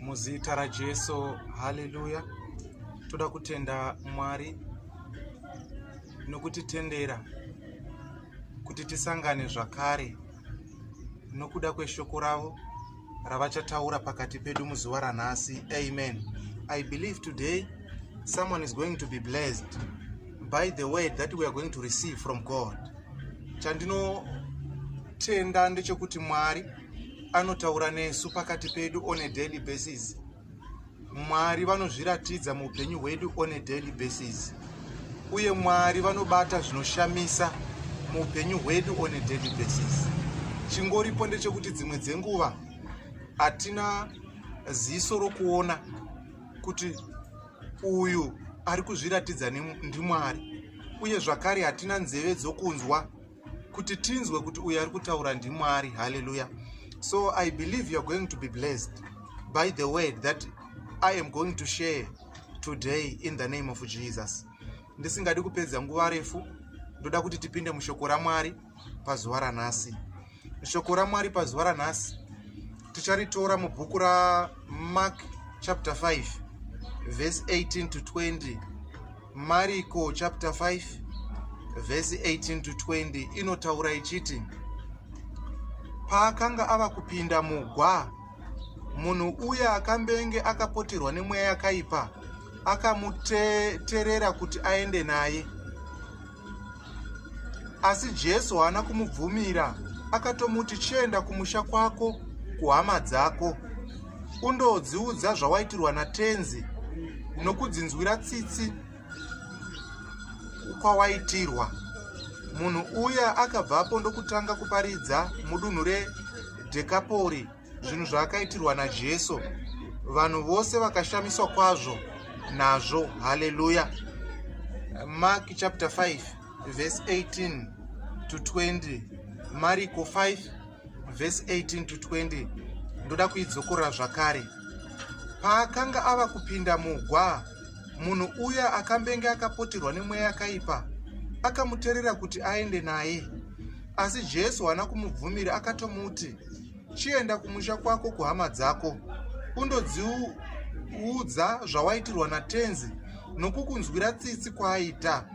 muzita rajesu haleluya toda kutenda mwari nokutitendera kuti tisangane zvakare nokuda kweshoko ravo ravachataura pakati pedu muzuva ranhasi amen i believe today someone is going to be blessed by the word that we are going to receive from god chandinotenda ndechekuti mwari anotaura nesu pakati pedu on a daily basis mwari vanozviratidza muupenyu hwedu on a daily basis uye mwari vanobata zvinoshamisa muupenyu hwedu on a daily basis chingoripo ndechekuti dzimwe dzenguva hatina ziso rokuona kuti uyu ari kuzviratidza ndimwari uye zvakare hatina nzeve dzokunzwa kuti tinzwe kuti uyo ari kutaura ndimwari haleluya so i believe youare going to be blessed by the word that i am going to share today in the name of jesus ndisingadi kupedza nguva refu ndoda kuti tipinde mushoko ramwari pazuva ranhasi shoko ramwari pazuva ranhasi ticharitora mubhuku ramark chapter 5 verse 18 to 20 mariko chapter 5 vhesi 18 to 20 inotaura ichiti paakanga ava kupinda mugwa munhu uya akambenge akapoterwa nemweya yakaipa akamuterera kuti aende naye asi jesu haana kumubvumira akatomuti chienda kumusha kwako kuhama dzako undodziudza zvawaitirwa natenzi nokudzinzwira tsitsi kwawaitirwa munhu uya akabvapo ndokutanga kuparidza mudunhu redhekapori zvinhu zvaakaitirwa najesu vanhu vose vakashamiswa kwazvo nazvo haleluya mark chapter 5 verse 18 to 20 mariko 5 verse 18 to 20 ndoda kuidzokorora zvakare paakanga ava kupinda mugwa munhu uya akambenge akapoterwa nemweya yakaipa akamuterera kuti aende naye asi jesu haana kumubvumira akatomuti Chienda kumusha kwako kuhama dzako undodziudza zvawaitirwa naTenzi nokukunzwira tsitsi kwaaita.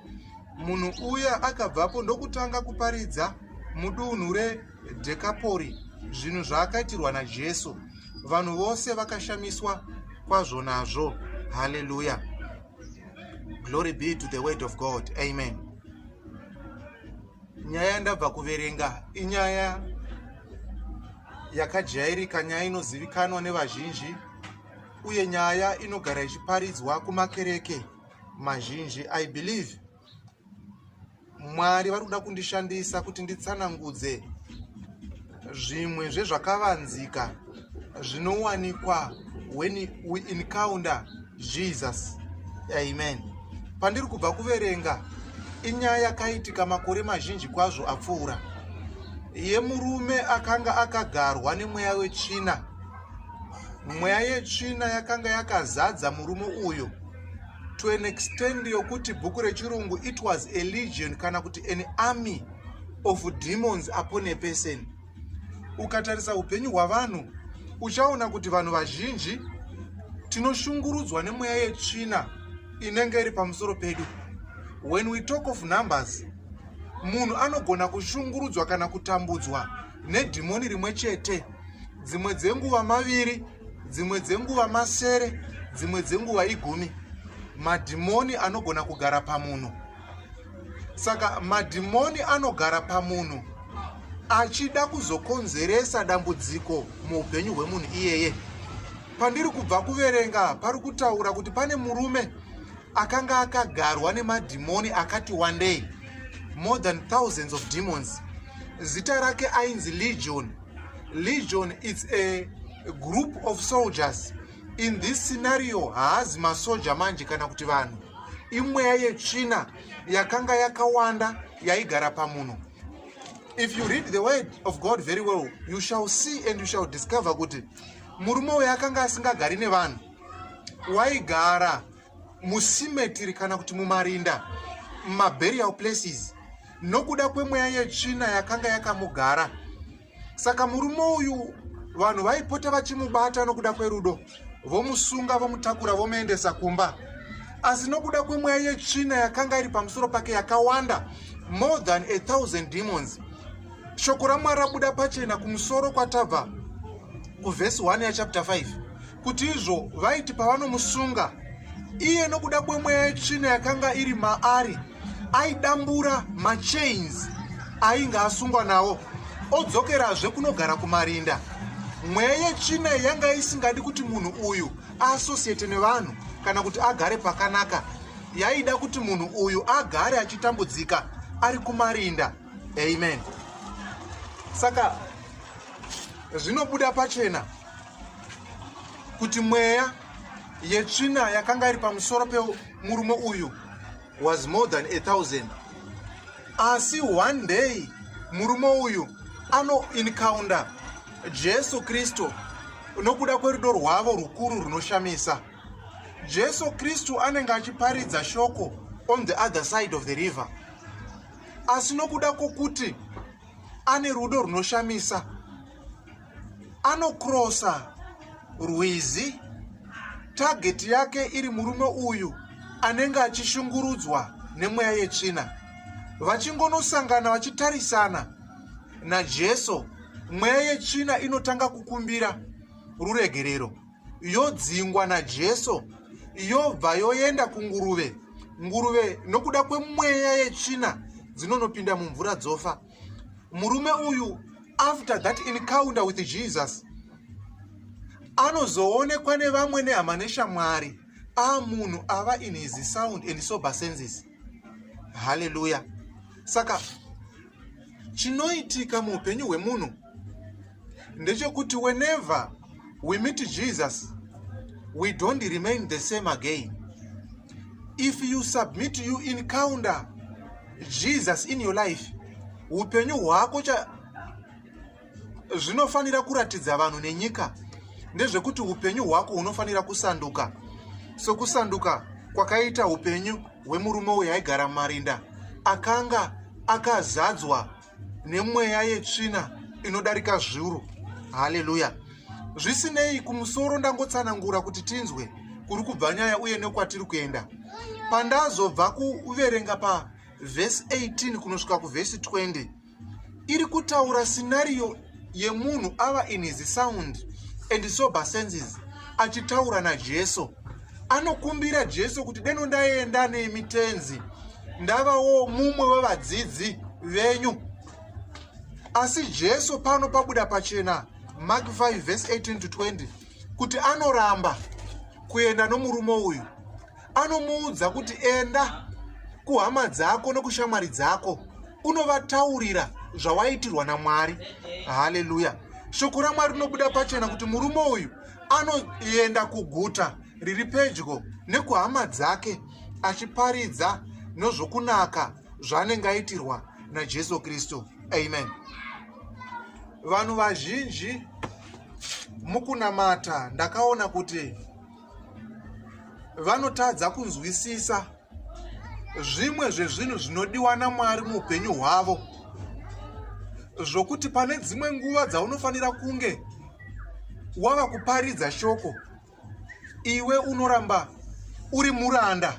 Munhu uya akabvapo ndokutanga kuparidza mudunhu reDhekapori zvinhu zvaakaitirwa naJesu. Vanhu vose vakashamiswa kwazvo nazvo. Haleluya! Glory be to the word of God. Amen. nyaya yandabva kuverenga inyaya yakajairika nyaya inozivikanwa nevazhinji uye nyaya inogara ichiparidzwa kumakereke mazhinji i believe mwari vari kuda kundishandisa kuti nditsanangudze Zvimwe zvezvakavanzika zvinowanikwa when we encounter Jesus. Amen. Pandiri kubva kuverenga inyaya yakaitika makore mazhinji kwazvo apfuura yemurume akanga akagarwa nemweya wetsvina. Mweya yetsvina yakanga yakazadza murume uyu to an extend yokuti bhuku rechirungu it was a legion kana kuti an army of demons upon a person ukatarisa upenyu hwavanhu uchaona kuti vanhu vazhinji tinoshungurudzwa nemweya yetsvina inenge iri pamusoro pedu when we talk of numbers munhu anogona kushungurudzwa kana kutambudzwa nedhimoni rimwe chete dzimwe dzenguva maviri dzimwe dzenguva masere dzimwe dzenguva igumi madhimoni anogona kugara pamunhu saka madhimoni anogara pamunhu achida kuzokonzeresa dambudziko muupenyu hwemunhu iyeye pandiri kubva kuverenga pari kutaura kuti pane murume akanga akagarwa nemadhimoni akati wandei more than thousands of demons zita rake ainzi legion legion its a group of soldiers in this scenario haazi masoja manje kana kuti vanhu imweya yetsvina yakanga yakawanda yaigara pamunhu if you read the word of god very well you shall see and you shall discover kuti murume uyo akanga asingagari nevanhu waigara musimetiri kana kuti mumarinda mumaburial places nokuda kwemweya yetsvina yakanga yakamugara saka murume uyu vanhu vaipota vachimubata nokuda kwerudo vomusunga vomutakura vomuendesa kumba asi nokuda kwemweya yetsvina yakanga iri pamusoro pake yakawanda more than a thousand demons shoko ramwari rabuda pachena kumusoro kwatabva kuvhesi 1 yachapter 5 kuti izvo vaiti pavanomusunga iye nokuda kwemweya yetsvina yakanga iri maari aidambura machains ainge asungwa nawo odzokerazve kunogara kumarinda mweya yetsvina yanga isingadi kuti munhu uyu aasosiyete nevanhu kana kuti agare pakanaka yaida kuti munhu uyu agare achitambudzika ari kumarinda amen saka zvinobuda pachena kuti mweya yetsvina yakanga iri pamusoro pemurume uyu was more than a thousand asi one day murume uyu anoincounter jesu kristu nokuda kwerudo rwavo rukuru runoshamisa jesu kristu anenge achiparidza shoko on the other side of the river asi nokuda kwokuti ane rudo runoshamisa anokrosa rwizi tageti yake iri murume uyu anenge achishungurudzwa nemweya yetsvina vachingonosangana vachitarisana najesu mweya yetsvina inotanga kukumbira ruregerero yodzingwa najesu yobva yoenda kunguruve nguruve nokuda kwemweya yetsvina dzinonopinda mumvura dzofa murume uyu after that encounter with jesus anozoonekwa nevamwe nehama neshamwari a munhu ava in his sound and sober senses haleluya saka chinoitika muupenyu hwemunhu ndechekuti whenever we meet jesus we don't remain the same again if you submit you encounter jesus in your life upenyu hwako cha zvinofanira kuratidza vanhu nenyika ndezvekuti upenyu hwako hunofanira kusanduka sokusanduka kwakaita upenyu hwemurume uyo aigara mumarinda akanga akazadzwa nemweya yetsvina inodarika zviuru haleluya zvisinei kumusoro ndangotsanangura kuti tinzwe kuri kubva nyaya uye nekwatiri kuenda pandazobva kuverenga pavhesi 18 kunosvika kuvhesi 20 iri kutaura sinariyo yemunhu ava in his sound and sober senses achitaura najesu anokumbira jesu kuti deno ndaenda nemi tenzi ndavawo mumwe wevadzidzi venyu asi jesu pano pabuda pachena mark 5 vese 18 to 20 kuti anoramba kuenda nomurume uyu anomuudza kuti enda kuhama dzako nokushamwari dzako unovataurira zvawaitirwa namwari haleluya shoko ramwari rinobuda pachena kuti murume uyu anoenda kuguta riri pedyo nekuhama dzake achiparidza nozvokunaka zvaanenge aitirwa najesu kristu amen vanhu vazhinji mukunamata ndakaona kuti vanotadza kunzwisisa zvimwe zvezvinhu zvinodiwa namwari muupenyu hwavo zvokuti pane dzimwe nguva dzaunofanira kunge wava kuparidza shoko iwe unoramba uri muranda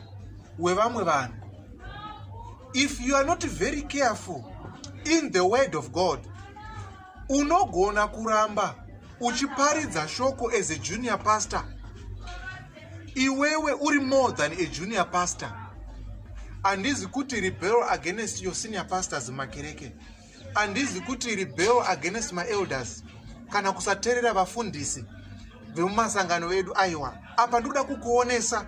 wevamwe vanhu if you are not very careful in the word of god unogona kuramba uchiparidza shoko as a junior pastor iwewe uri more than a junior pastor handizi kuti rebel against your senior pastors makereke Andizi kuti rebel against my elders kana kusaterera vafundisi vemumasangano edu aiwa apa ndikuda kukuonesa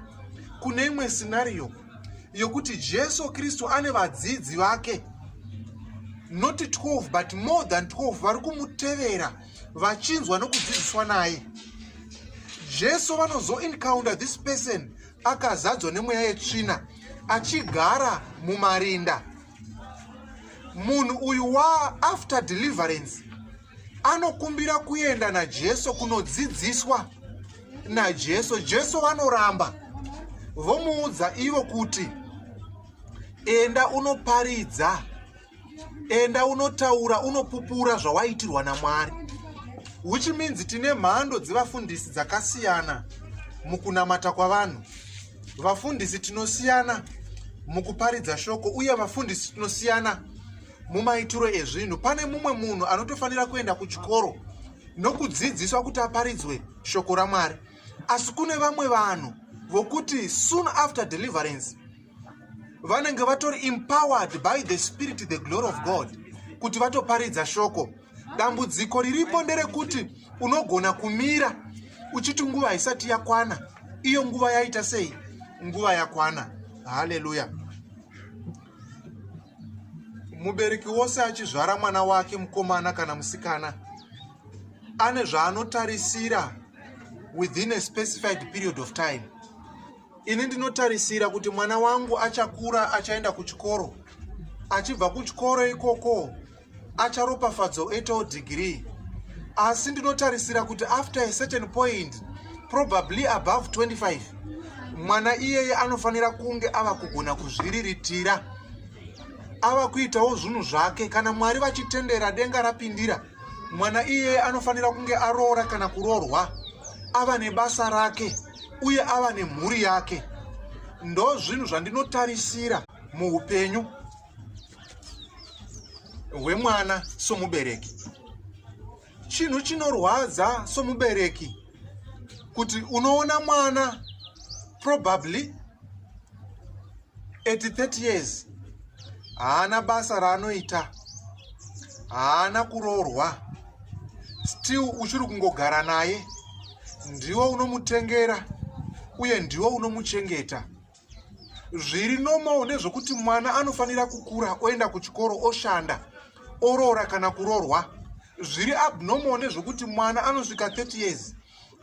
kune imwe scenario yokuti jesu kristu ane vadzidzi vake not 12 but more than 12 vari kumutevera vachinzwa nokudzidziswa naye jesu vanozoencounter this person akazadzwa nemweya yetsvina achigara mumarinda munhu uyu wa after deliverance anokumbira kuenda najesu kunodzidziswa najesu jesu vanoramba vomuudza ivo kuti enda unoparidza enda unotaura unopupura zvawaitirwa namwari which means tine mhando dzevafundisi dzakasiyana mukunamata kwavanhu vafundisi tinosiyana mukuparidza shoko uye vafundisi tinosiyana mumaitiro ezvinhu pane mumwe munhu anotofanira kuenda kuchikoro nokudzidziswa kuti aparidzwe shoko ramwari asi kune vamwe vanhu vokuti soon after deliverance vanenge vatori empowered by the spirit the glory of god kuti vatoparidza shoko dambudziko riripo nderekuti unogona kumira uchiti nguva haisati yakwana iyo nguva yaita sei nguva yakwana haleluya mubereki wose achizvara mwana wake mukomana kana musikana ane zvaanotarisira within a specified period of time ini ndinotarisira kuti mwana wangu achakura achaenda kuchikoro achibva kuchikoro ikoko acharopafadzwa oitawo degree asi ndinotarisira kuti after a certain point probably above 25 mwana iyeye anofanira kunge ava kugona kuzviriritira ava kuitawo zvinhu zvake kana mwari vachitendera denga rapindira mwana iyeye anofanira kunge aroora kana kuroorwa ava nebasa rake uye ava nemhuri yake ndo zvinhu zvandinotarisira muupenyu hwemwana somubereki chinhu chinorwadza somubereki kuti unoona mwana probably at 30 years haana basa raanoita haana kuroorwa still uchiri kungogara naye ndiwo unomutengera uye ndiwo unomuchengeta zviri normal ndezvekuti mwana anofanira kukura oenda kuchikoro oshanda oroora kana kurorwa zviri abnormal ndezvekuti mwana anosvika 30 years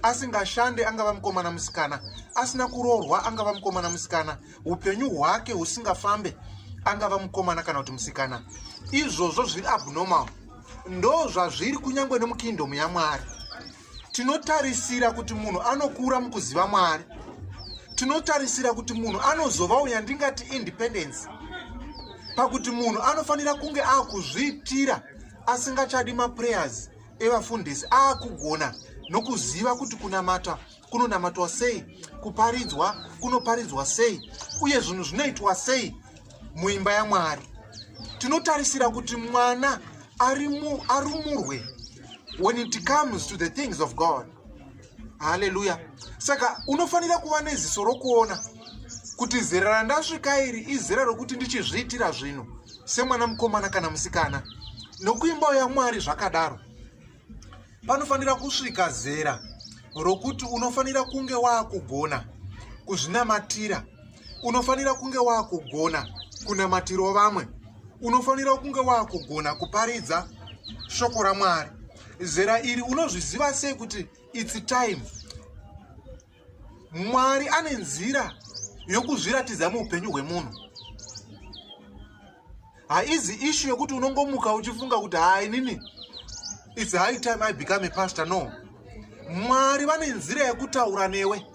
asingashande angava mukomana musikana asina kurorwa angava mukomana musikana upenyu hwake husingafambe angava mukomana kana kuti musikana izvozvo zviri abnormal ndo zvazviri kunyange nemukingdom yamwari tinotarisira kuti munhu anokura mukuziva mwari tinotarisira kuti munhu anozova uya ndingati independence pakuti munhu anofanira kunge akuzviitira asingachadi maprayers evafundisi akugona nokuziva kuti kunamata kunonamatwa sei kuparidzwa kunoparidzwa sei uye zvinhu zvinoitwa sei muimba yamwari tinotarisira kuti mwana arumurwe when it comes to the things of god haleluya saka unofanira kuva neziso rokuona kuti zera randasvika iri izera rokuti ndichizviitira zvinhu semwana mukomana kana musikana nokuimba yamwari zvakadaro panofanira kusvika zera rokuti unofanira kunge waakugona kuzvinamatira unofanira kunge waakugona kunamatiro vamwe unofanira kunge waakugona kuparidza shoko ramwari zera iri unozviziva sei kuti its time mwari ane nzira yokuzviratidza muupenyu hwemunhu haizi ishu yokuti unongomuka uchifunga kuti haa inini its high time i become a pastor no mwari vane nzira yekutaura newe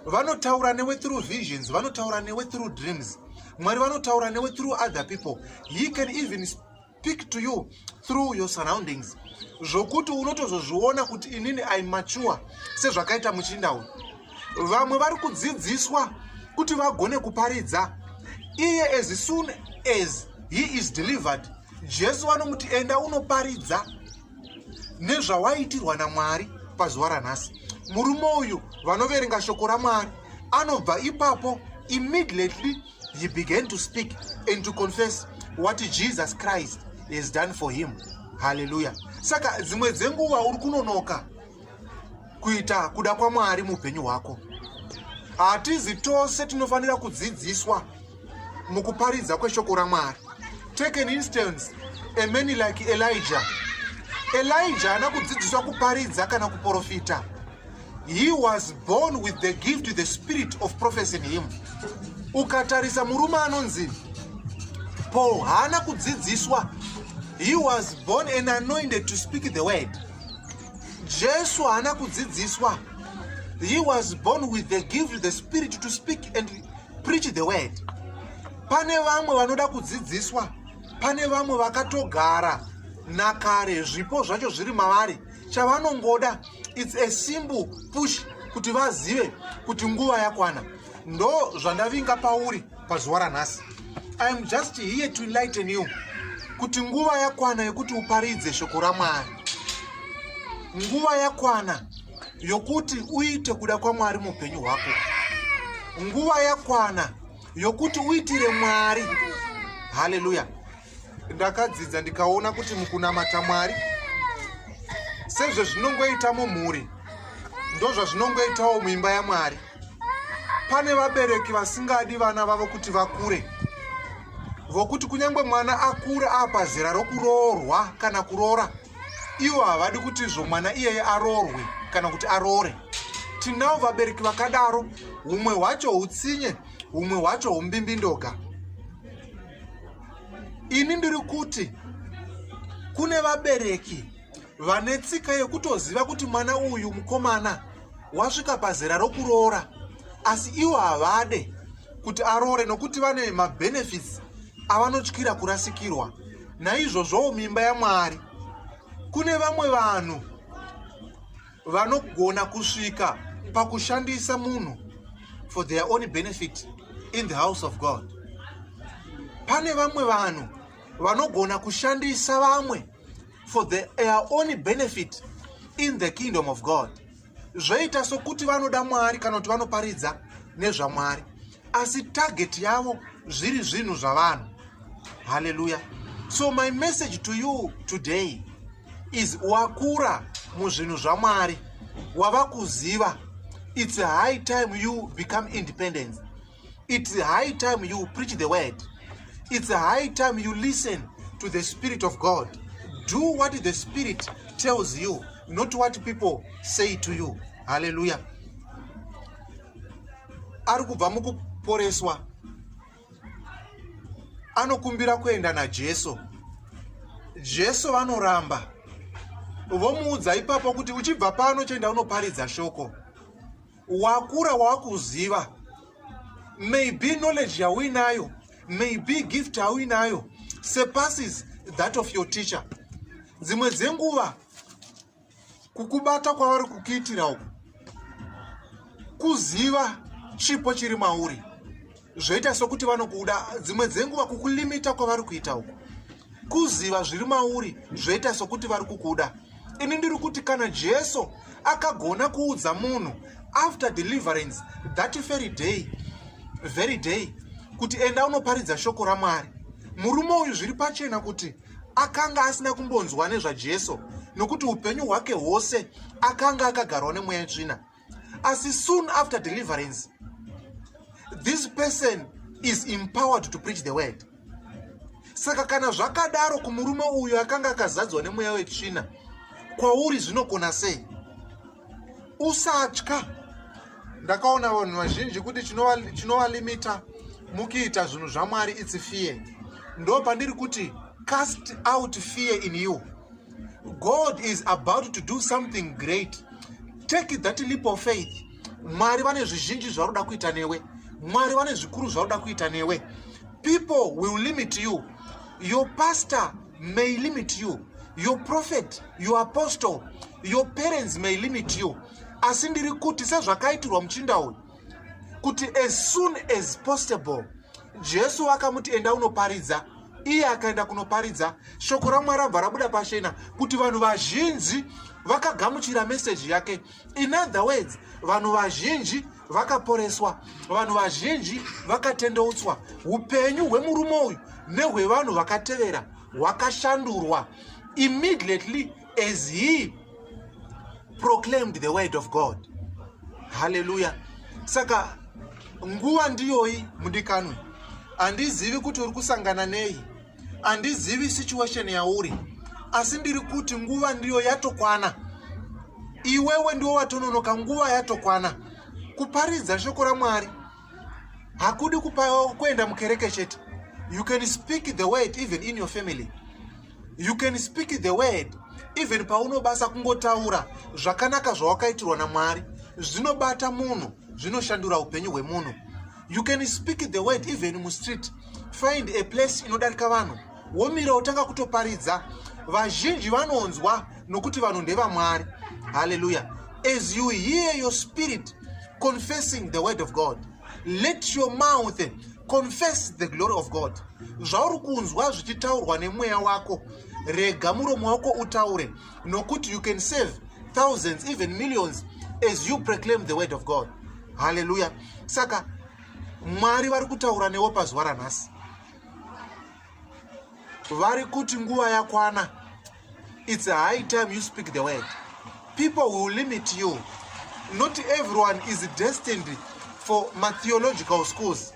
vanotaura newe through visions vanotaura newe through dreams mwari vanotaura newe through other people he can even speak to you through your surroundings zvokuti unotozozviona kuti inini i mature sezvakaita muchinda uyu vamwe vari kudzidziswa kuti vagone kuparidza iye as soon as he is delivered jesu vanomuti enda unoparidza nezvawaitirwa namwari pazuva ranhasi murume uyu vanoverenga shoko ramwari anobva ipapo immediately He began to speak and to confess what Jesus Christ has done for him. Hallelujah. Saka dzimwe dzenguva uri kunonoka kuita kuda kwaMwari muupenyu hwako. Hatizi tose tinofanira kudzidziswa mukuparidza kweshoko raMwari. Take an instance, a man like Elijah. Elijah haana kudzidziswa kuparidza kana kuprofita. He was born with the gift, the spirit of prophecy in him. Ukatarisa murume anonzi Paul haana kudzidziswa. He was born and anointed to speak the word. Jesu haana kudzidziswa. He was born with the gift, the spirit to speak and preach the word. Pane vamwe vanoda kudzidziswa. Pane vamwe vakatogara nakare zvipo zvacho zviri mavari. chavanongoda its a simple push kuti vazive kuti nguva yakwana ndo zvandavinga pauri pazuva ranhasi iam just here to enlighten you kuti nguva yakwana yekuti uparidze shoko ramwari nguva yakwana yokuti uite kuda kwamwari muupenyu hwako nguva yakwana yokuti uitire mwari haleluya ndakadzidza ndikaona kuti mukunamata mwari sezvezvinongoita mumhuri ndozvazvinongoitawo muimba yamwari pane vabereki vasingadi vana vavo kuti vakure vokuti kunyange mwana akure apa zera rokuroorwa kana kuroora ivo havadi kuti izvo mwana iyeye aroorwe kana kuti aroore tinawo vabereki vakadaro humwe hwacho utsinye humwe hwacho humbimbindoga ini ndiri kuti kune vabereki vane tsika yekutoziva kuti mwana uyu mukomana wasvika pazera rokuroora asi ivo havade kuti aroore nokuti vane mabenefits avanotyira kurasikirwa naizvozvowo mimba yamwari kune vamwe vanhu vanogona kusvika pakushandisa munhu for their own benefit in the house of god pane vamwe vanhu vanogona kushandisa vamwe for their own benefit in the kingdom of god zvoita sokuti vanoda mwari kana kuti vanoparidza nezvamwari asi target yavo zviri zvinhu zvavanhu haleluya so my message to you today is wakura muzvinhu zvamwari wava kuziva it's high time you become independent it's high time you preach the word it's high time you listen to the spirit of god do what the spirit tells you not what people say to you haleluya ari kubva mukuporeswa anokumbira kuenda najesu jesu vanoramba vomuudza ipapo kuti uchibva pano chienda unoparidza shoko wakura wakuziva maybe knowledge yauinayo maybe gift yauinayo surpasses that of your teacher dzimwe dzenguva kukubata kwavari kukuitira uku kuziva chipo chiri mauri zvoita sokuti vanokuda dzimwe dzenguva kukulimita kwavari kuita uku kuziva zviri mauri zvoita sokuti vari kukuda ini ndiri kuti kana jesu akagona kuudza munhu after deliverance that very day very day kuti enda unoparidza shoko ramwari murume uyu zviri pachena kuti akanga asina kumbonzwa nezvajesu nokuti upenyu hwake hwose akanga akagarwa nemweya yetsvina asi soon after deliverance this person is empowered to preach the word saka kana zvakadaro kumurume uyo akanga akazadzwa nemweya wetsvina kwauri zvinokona sei usatya ndakaona vanhu vazhinji kuti chinovalimita mukiita zvinhu zvamwari its fear ndo pandiri kuti cast out fear in you god is about to do something great take that leap of faith mwari vane zvizhinji zvaroda kuita newe mwari vane zvikuru zvaroda kuita newe people will limit you your pastor may limit you your prophet your apostle your parents may limit you asi ndiri kuti sezvakaitirwa muchinda uyu kuti as soon as possible jesu akamuti enda unoparidza iye akaenda kunoparidza shoko ramwari rabva rabuda pachena kuti vanhu vazhinji vakagamuchira meseji yake in other words vanhu vazhinji vakaporeswa vanhu vazhinji vakatendeutswa upenyu hwemurume uyu nehwevanhu vakatevera hwakashandurwa immediately as he proclaimed the word of god haleluya saka nguva ndiyoyi mudikanwe handizivi kuti uri kusangana nei handizivi situation yauri asi ndiri kuti nguva ndiyo yatokwana iwewe ndiwo watononoka nguva yatokwana kuparidza shoko ramwari hakudi kuenda mukereke chete you can speak the word even in your family you can speak the word even paunobasa kungotaura zvakanaka zvawakaitirwa namwari zvinobata munhu zvinoshandura upenyu hwemunhu you can speak the word even mustreet find a place inodarika vanhu womira wotanga kutoparidza vazhinji vanonzwa nokuti vanhu ndevamwari haleluya as you hear your spirit confessing the word of god let your mouth confess the glory of god zvauri kunzwa zvichitaurwa nemweya wako rega muromo wako utaure nokuti you can save thousands even millions as you proclaim the word of god haleluya saka mwari vari kutaura newo pazuva ranhasi vari kuti nguva yakwana it's a high time you speak the word people will limit you not everyone is destined for matheological schools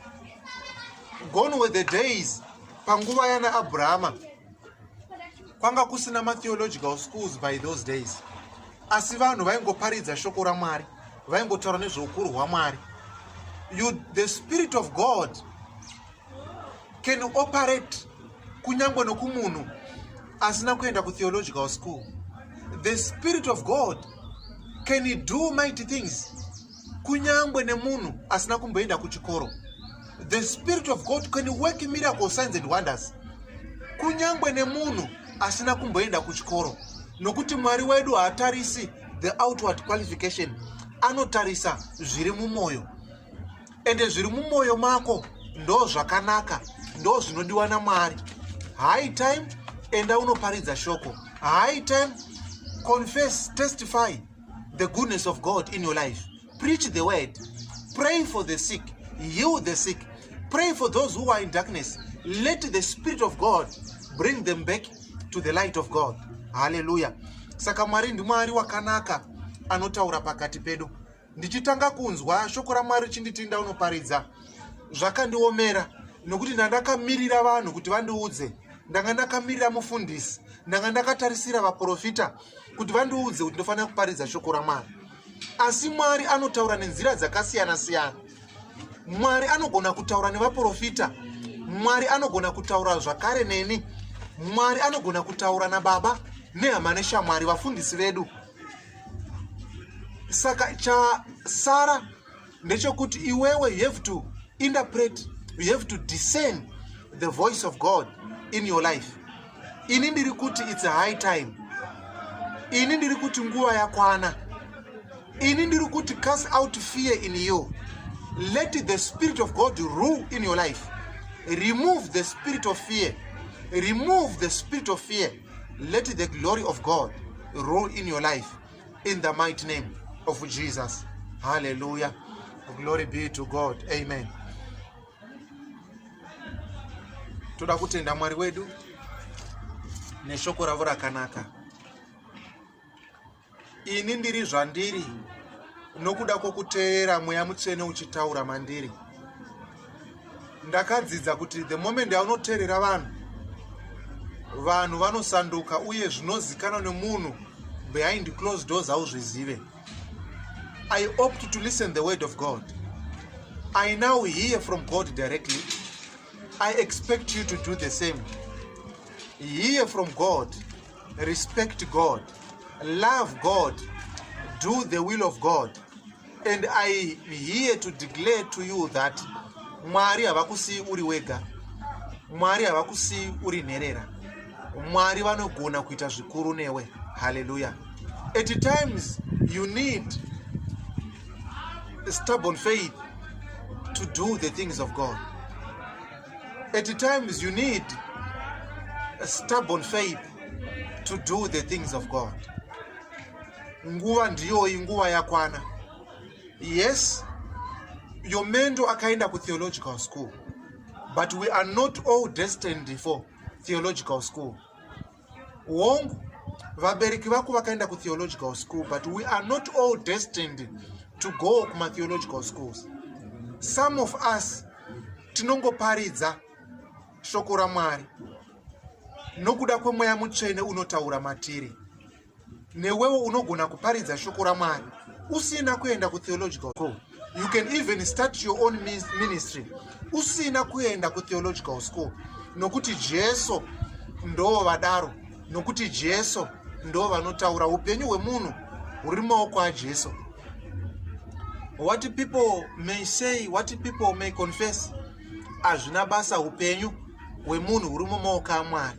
gone were the days panguva yana abrahama kwanga kusina matheological schools by those days asi vanhu vaingoparidza shoko ramwari vaingotaura nezveukuru hwamwari the spirit of god can operate kunyange nokumunhu asina kuenda kutheological school the spirit of god can do mighty things kunyangwe nemunhu asina kumboenda kuchikoro the spirit of god can work miracle signs and wonders kunyangwe nemunhu asina kumboenda kuchikoro nokuti mwari wedu haatarisi the outward qualification anotarisa zviri mumwoyo ende zviri mumwoyo mako ndo zvakanaka ndo zvinodiwa namwari high time enda unoparidza shoko high time confess testify the goodness of God in your life. Preach the word. Pray for the sick. Heal the sick. Pray for those who are in darkness. Let the Spirit of God bring them back to the light of God. Hallelujah. Saka Mwari ndimwari wakanaka anotaura pakati pedu. Ndichitanga kunzwa shoko raMwari chinditi ndaunoparidza zvakandiomera nokuti ndandakamirira vanhu kuti vandiudze ndanga ndakamirira mufundisi ndanga ndakatarisira vaprofita kuti vandiudze kuti ndofanira kuparidza shoko ramwari asi mwari anotaura nenzira dzakasiyana siyana mwari anogona kutaura nevaprofita mwari anogona kutaura zvakare neni mwari anogona kutaura nababa nehama neshamwari vafundisi vedu saka chasara ndechokuti iwewe you have to interpret you have to discern the voice of god in your life ini ndiri kuti its a high time ini ndiri kuti nguva yakwana ini ndiri kuti cast out fear in you let the spirit of god rule in your life remove the spirit of fear remove the spirit of fear let the glory of god rule in your life in the mighty name of Jesus. Hallelujah. Glory be to God. Amen. Toda kutenda Mwari wedu neshoko ravo rakanaka. Ini ndiri zvandiri nokuda kwokuteerera mweya mutsvene uchitaura mandiri. ndakadzidza kuti the moment yaunoteerera vanhu vanhu vanosanduka uye zvinozikanwa nemunhu behind close doors hauzvizive i opt to listen the word of god i now hear from god directly i expect you to do the same hear from god respect god love god do the will of god and i here to declare to you that mwari havakusiyi uri wega mwari havakusiyi uri nherera mwari vanogona kuita zvikuru newe halleluya at times you need stubborn faith to do the things of god at times you need stubborn faith to do the things of god nguva ndiyoyi nguva yakwana yes your mendo akaenda kutheological school but we are not all destined for theological school wongu vabereki vako vakaenda kutheological school but we are not all destined to go kumatheological schools some of us tinongoparidza shoko ramwari nokuda kwemweya mutsvene unotaura matiri newewo unogona kuparidza shoko ramwari usina kuenda kutheological school you can even start your own ministry usina kuenda kutheological school nokuti jesu ndoo vadaro nokuti jesu ndoo vanotaura upenyu hwemunhu huri maoko ajesu what people may say what people may confess hazvina basa upenyu hwemunhu huri mumaoko amwari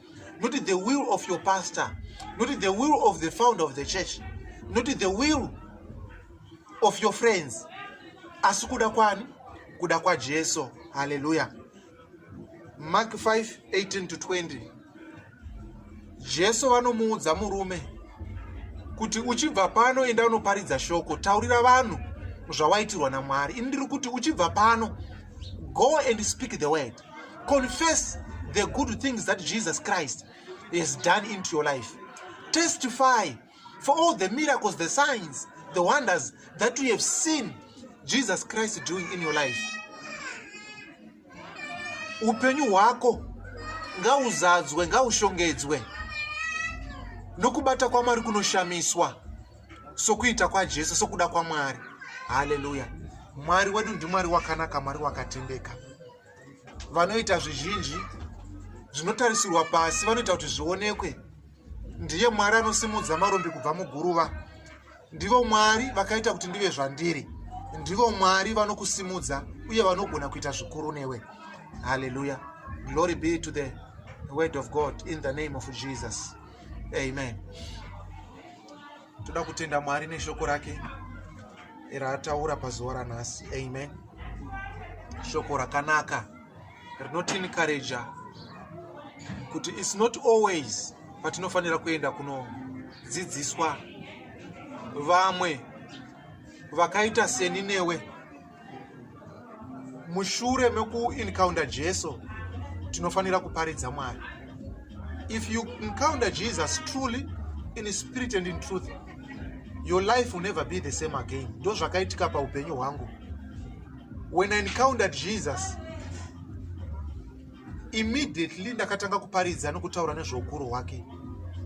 not the will of your pastor not the will of the founder of the church not the will of your friends asi kuda kwani kuda kwajesu haleluya mark 5 18 to 20 jesu vanomuudza murume kuti uchibva pano enda unoparidza shoko taurira vanhu zvawaitirwa namwari ini ndiri kuti uchibva pano go and speak the word confess the good things that jesus christ has done into your life testify for all the miracles the signs the wonders that you have seen jesus christ doing in your life upenyu hwako ngauzadzwe ngaushongedzwe nokubata kwamwari kunoshamiswa sokuita kwajesu sokuda kwamwari haleluya mwari wedu ndimwari wakanaka mwari wakatendeka vanoita zvizhinji zvinotarisirwa pasi vanoita kuti zvionekwe ndiye mwari anosimudza marombi kubva muguruva ndivo mwari vakaita kuti ndive zvandiri ndivo mwari vanokusimudza uye vanogona kuita zvikuru newe haleluya glory be to the word of god in the name of jesus amen toda kutenda mwari neshoko rake raataura pazuva ranhasi amen shoko rakanaka rinotinikareja kuti its not always patinofanira kuenda kunodzidziswa vamwe vakaita seni newe mushure mekuencounter jesu tinofanira kuparidza mwari if you encounter jesus truly in spirit and in truth your life will never be the same again ndo zvakaitika paupenyu hwangu when i encountered jesus immediately ndakatanga kuparidza nokutaura nezveukuru hwake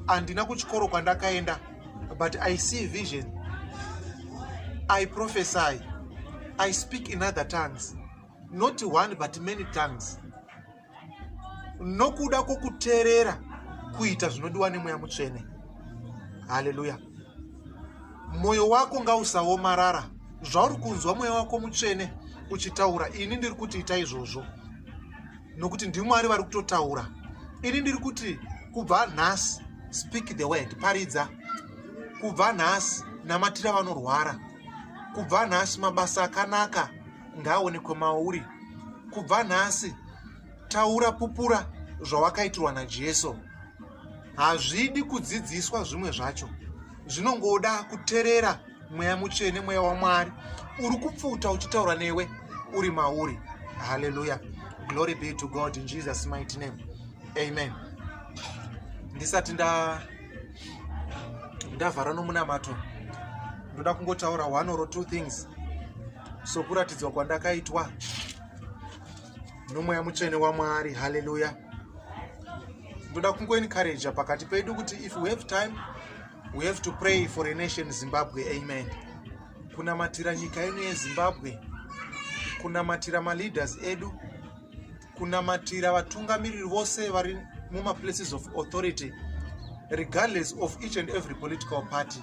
handina kuchikoro kwandakaenda but i see vision i prophesy i speak in other tongues not one but many tongues nokuda kwokuteerera kuita zvinodiwa nemweya mutsvene haleluya mwoyo wako ngausaomarara zvauri kunzwa mweya wako mutsvene uchitaura ini ndiri kuti ita izvozvo nokuti ndimwari vari kutotaura ini ndiri kuti kubva nhasi speak the word paridza kubva nhasi namatira vanorwara kubva nhasi mabasa akanaka ngaaonekwe mauri kubva nhasi Taura pupura zvawakaitirwa naJesu. Hazvidi kudzidziswa zvimwe zvacho. Zvinongoda kuterera mweya mutsvene mweya waMwari uri kupfuta uchitaura newe uri mauri. Hallelujah. Glory be to God in Jesus mighty name. Amen. Ndisati nda ndavhara nomunamato ndoda kungotaura one or two things sokuratidzwa kwandakaitwa nomweya mutsvene wamwari haleluya ndoda kungoencouraja pakati pedu kuti if we have time we have to pray for a nation zimbabwe amen kunamatira nyika ino yezimbabwe kunamatira maleaders edu kunamatira vatungamiriri vose vari mumaplaces of authority regardless of each and every political party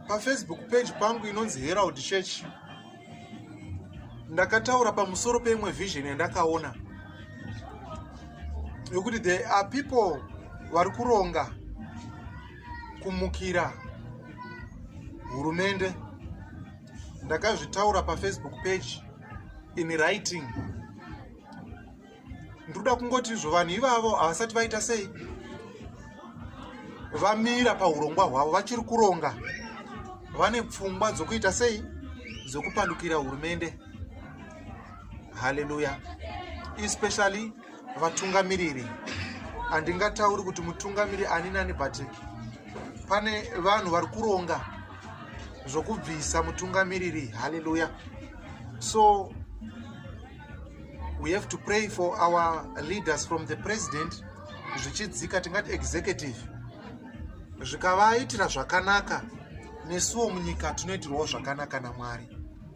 pafacebook page pangu inonzi herald church ndakataura pamusoro peimwe vision yandakaona yokuti there are people vari kuronga kumukira hurumende ndakazvitaura pafacebook page in writing ndoda kungoti izvo vanhu ivavo havasati vaita sei vamira paurongwa hwavo vachiri kuronga vane pfungwa dzokuita sei dzokupandukira hurumende haleluya especially vatungamiriri handingatauri kuti mutungamiriri ani nani but pane vanhu vari kuronga zvokubvisa mutungamiriri haleluya so We have to pray for our leaders from the president zvichidzika tingati executive zvikavaitira zvakanaka nesuwo munyika tinoitirwawo zvakanaka namwari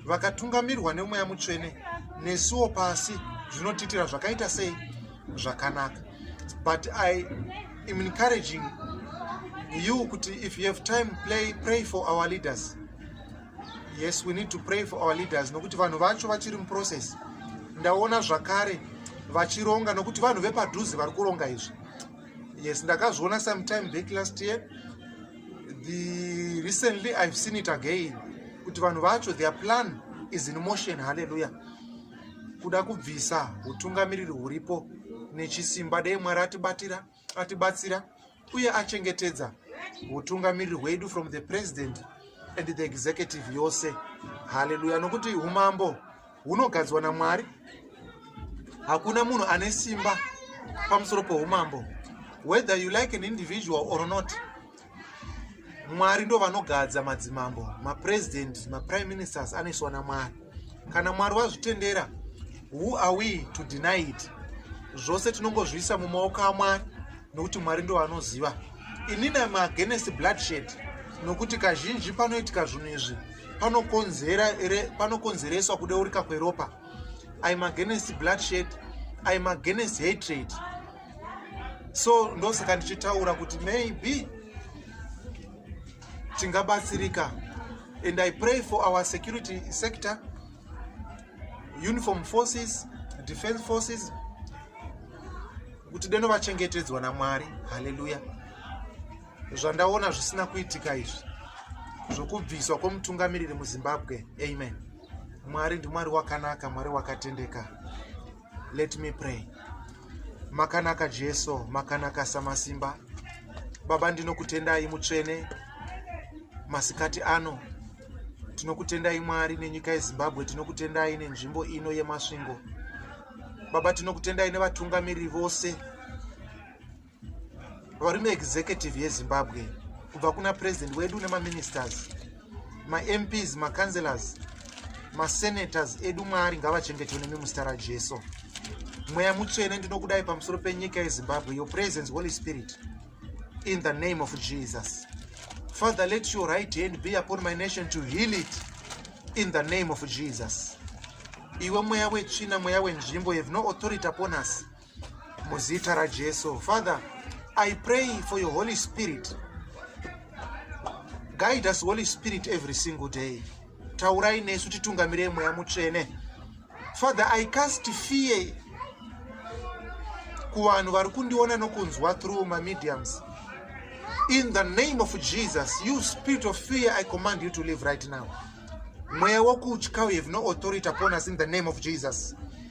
vakatungamirwa nemweya mutsvene nesuwo pasi zvinotiitira zvakaita sei zvakanaka but i am encouraging you kuti if you have time play pray for our leaders yes we need to pray for our leaders nokuti vanhu vacho vachiri muprocess ndaona zvakare vachironga nokuti vanhu vepadhuze vari kuronga izvi yes ndakazviona sometime back last year the recently i've seen it again kuti vanhu vacho their plan is in motion halleluya kuda kubvisa utungamiriri huripo nechisimba dei mwari atibatira atibatsira uye achengetedza utungamiriri hwedu from the president and the executive yose haleluya nokuti umambo hunogadzwa namwari hakuna munhu ane simba pamusoro poumambo whether you like an individual or not mwari ndo vanogadza madzimambo mapresident maprime ministers anoiswa namwari kana mwari vazvitendera who are we to deny it zvose tinongozviisa mumaoko amwari nokuti mwari ndo vanoziva inini am against bloodshed nokuti kazhinji panoitika zvinhu izvi panokonzereswa kudeurika kweropa im against bloodshed im against hatred so ndosaka ndichitaura kuti maybe tingabatsirika and i pray for our security sector uniform forces defense forces kuti deno vachengetedzwa namwari haleluya zvandaona zvisina kuitika izvi zvokubviswa kwomutungamiriri muzimbabwe amen mwari ndimwari wakanaka mwari wakatendeka let me pray makanaka jesu makanaka samasimba baba ndinokutendai mutsvene masikati ano tinokutendai mwari nenyika yezimbabwe tinokutendai nenzvimbo ino yemasvingo baba tinokutendai nevatungamiriri vose varume executive yezimbabwe kubva kuna president wedu nemaministers mamps macancelors masenators edu mwari ngavachengetwe nemi muzita rajesu mweya mutsvene ndinokudai pamusoro penyika yezimbabwe your presence holy spirit in the name of jesus father let your right hand be upon my nation to heal it in the name of jesus iwe mweya wetsvina mweya wenzvimbo have no authority upon us muzita rajesu father i pray for your holy spirit guide us holy spirit every single day taurai nesu titungamirei mweya mutsvene father i cast fear kuvanhu vari kundiona nokunzwa through mamediums in the name of jesus you spirit of fear i command you to live right now mweya wokutya you have no authority upon us in the name of jesus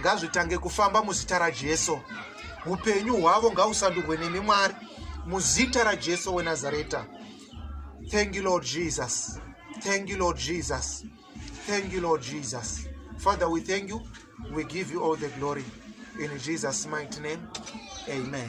ngazvitange kufamba muzita rajesu upenyu hwavo ngausandurwe nemi mwari muzita rajesu wenazareta thank you lord jesus thank you lord jesus thank you lord jesus father we thank you we give you all the glory in jesus mighty name amen